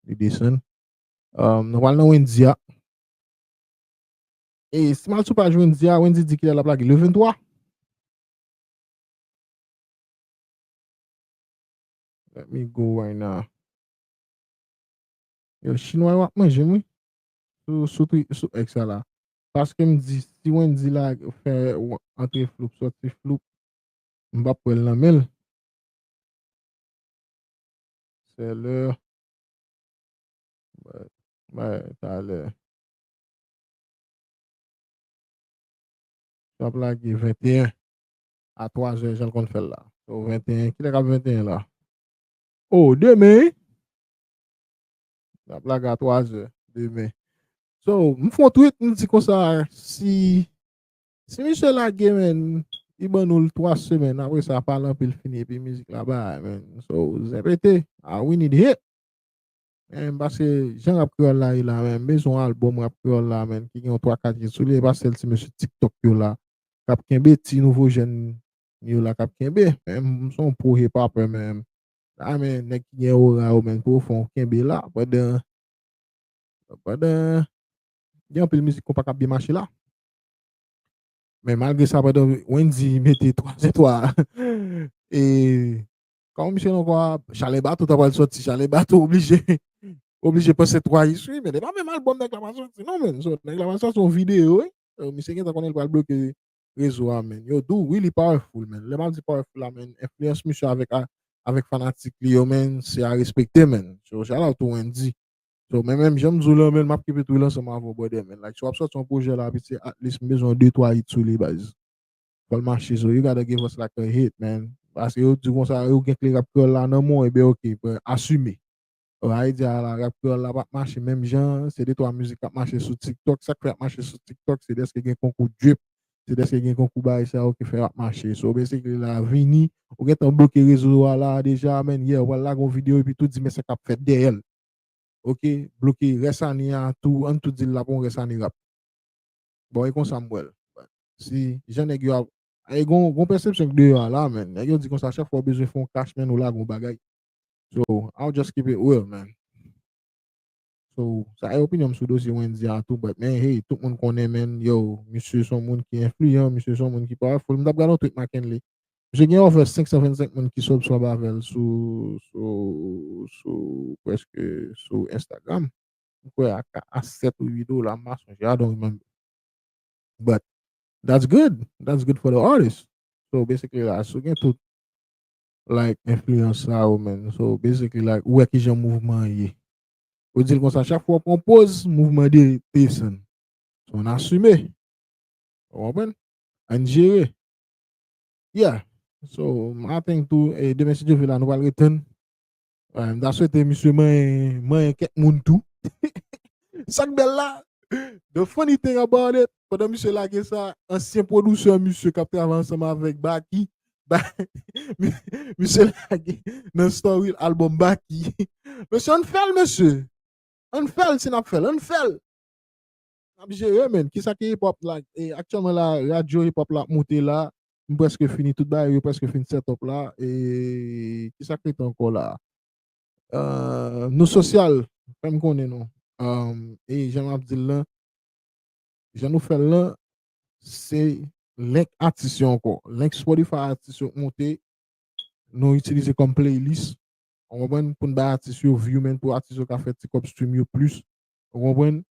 Li desann. Nou pral nan Wendy a. E, si mal sou paj Wendy a, Wendy di kilè lap lage? Le 23? Let me go right now. Yo, chinwa yo ap manje mwen. Sou tri, sou ek sa la. Paske m di, si Wendy la fè antre floup, soti floup, m pap pwèl nan menl. sè lè bay talè nap lage 21 a 3 zè jan konn fèl la so 21 kilè kap 21 la oh demen nap lage a 3 zè demen so m fon tweet m di konsa si Si misye lage men, li ban nou l 3 semen, apre sa pa lan pil fini epi mizik la bay men. So, zèpete, ah, we need hit. Men, m pase jan rap kreyòl la ye la men, m bezwen albòm rap kreyòl la men ki gen yon 3 4 hit sou li, e pa sèl ti mesye tiktok yo la k ap kenbe, ti nouvo jèn yo la k ap kenbe. Men, m se yon pro hip hopper men, la men nèg ki gen ora yo men pwofon kenbe la pandan, pandan gen anpil mizik konpa k ap byen mache la. Men malgre sa pandan Wendy mete 3 zetwa e kòman misye non kwa Chale Bato ta pral soti, Chale Bato oblije oblije pase 3 is wi men e pa menm albòm nèg la pral soti non menn so nèg la pral soti yon videyo wi misye gentan konnen li pral bloke rezo a menn yo dou wi li powerful menn lè m ap di powerful la menn enfliyans misye avèk avèk fanatik li yo menn se a respekte menn so shout out to Wendy So men menm janm di w lan men map keep it real ansanm avè w brother men like si wap sòti yon projè la vit se at least m bezwen yon 2 3 hit sou li baz fòl mache so you gotta give us like a hit man paske yo di konsa yo gen kle rap kreyòl la nan men w ebyen ok bro asime oh a idea a la rap kreyòl la pap mache menm jan an se 2 3 mizik kap mache sou tiktok sak fè ap mache sou tiktok se dèske gen konkou drip se dèske gen konkou bagay sa yo ki fè ap mache so basically la vini ou gentan bloke rezo a la deja men yeah wal lage yon video epi tou di men sa kap fèt dèyè l ok bloke rès ane a tou ann tou dil lap on rès ane rap bon e konsam wèl si jan nèg yo e gon gon pèsepsyon k deyò a la menn nèg yo di konsa chak fwa ou bezwen fon kach menn ou lage on bagay so I'll just keep it real man so sa e opinyon m sou dosye Wendyy a tou but men hey tout moun konnen menn yow misye son moun ki enfliyan misye son moun ki pawèful m tap gad on tweet Makenley Misye gen over 525 moun ki subscribe avèl sou sou sou preske sou Instagram. Mwen kwè a ka a 7 ou 8 dola m pa sonje I don't remember. But that's good. That's good for the artist. So basically la si w gen tout like enfliyans sa yo men so basically like ou wè kijan mouvman an ye. Ou di l konsa chak fwa w pran yon poz mouvman de desann. So an asime. Ou konprann? Ann jere. Yeah, so m a think tou e demen si Dye vle la nou pral return. M ta swete misye manyen manyen kèk moun tou. Sak bèl la, the funny thing about it, pandan misye lage sa, ansyen producer misye kap travay ansanm avèk Baky, misye lage nan story l album Baky. Mesye ann fèl mesye! Ann fèl si nap fèl, ann fèl! Nap jere men, kisa ki hip hop la aktyèlman la radyo hip hop la ap moute la m prèske fini tout bagay yo prèske fin set up la kisa k rete ankò la nou sosyal fèm konnen nou e jan map dil lan jan nou fèl lan se link atis yo ankò link spotify atis yo k moute nou itilize kòm playlist ou konprann poun bay atis yo view men pou atis yo ka fè ti kòb stream yo plis ou konprann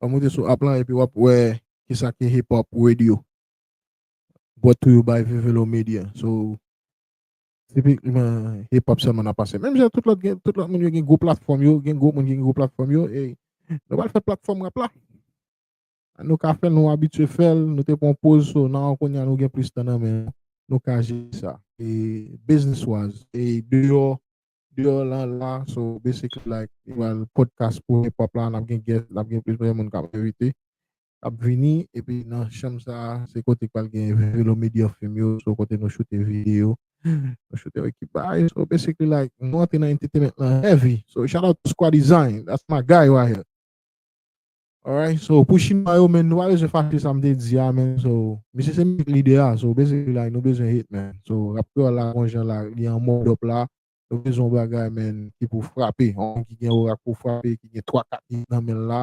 Wap moute sou app lan epi wap wè kisa ki hip hop radio. Brought to you by Vivelo Media. So, tipikman hip hop sèlman nap pase. Menm jan tout lòt gen, tout lòt moun yo gen gwo platfòm yo, gen gwo moun ki gen gwo platfòm yo, ey, nou pral fè platfòm rap la. Nou ka fèl, nou abitye fèl, nou te pran poz, so nan an kounya nou gen plis tan nan men nou, nou ka jere sa. E business wise, e deyò deyò lan la so basically like li pral podcast premye pop la nap gen guest nap gen plizyè moun kap envite kap vini epi nan chanm sa se kote ki pral gen velo media film yo so kote nou choute video nou choute yon ekip bagay so basically like nou antre nan entertainment lan heavy so shout out to squaddesign that's my guy right here. Alright so pou chinwa yo men nou pa bezwen fache sa m te di a men so misye se menm lide a so basically like nou bezwen hit man so rap kreyòl la gon jan la li an mode up la nou bezwen yon bagay man ki pou frape yon moun ki gen ora k pou frape ki gen 3 4 hit nan men l la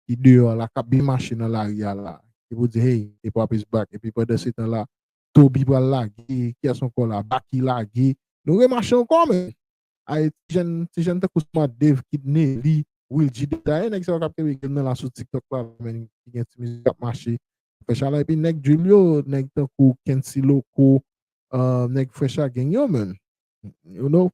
ki deyò la k ap byen mache nan lari a la ki pou di hey hip hop is back epi pandansetan la Toby pral lage kiyès ankò la Baky lage nou remache ankò man Ay ti jèn ti jèn tankou sa man Dave Kidney li Will G Detta e nèg sa yo kap kenbe game nan la sou tiktok la men ki gen ti mizik kap mache fè chalè epi nèg drill yo nèg tankou Kency Loco nèg Fresh A Gang yo menn you know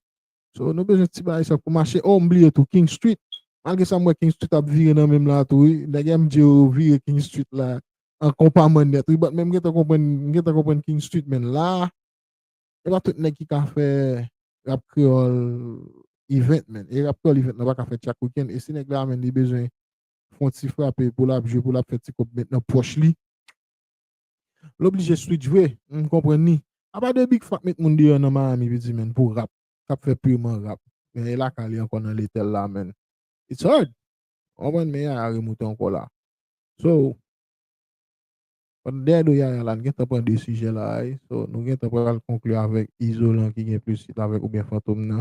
so nou bezwen ti bagay sa pou mache oh m bliye tou King Street malgre sa m wè King Street ap vire nan menm la tou wi nèg MJ yo vire King Street la an konpa manyèt wi but men m gentan konprann m gentan konprann King Street men la Se pa tout nèg ki ka fè rap kreyòl event menn. E rap kreyòl event nan pa ka fèt chak weekend. E si nèg la menn li bezwen fon ti frape pou lap jwe, pou lap fè ti kòb met nan pòch li, l oblije switch vre. M konprann li. Apa de Big Fat met moun deyò nan Miami piti menn pou rap, kap fè pirman rap. Men e lakay li ankò nan Letèl la menn. It's hard! Ou konprann? Men Yaya remoute ankò la. So. Pandan dèyè do Yaya la, n gentan pran 2 sijè la a wi. So, nou gentan pral konkli avèk Izolan ki gen plis fit avèk oubyen Fantom nan.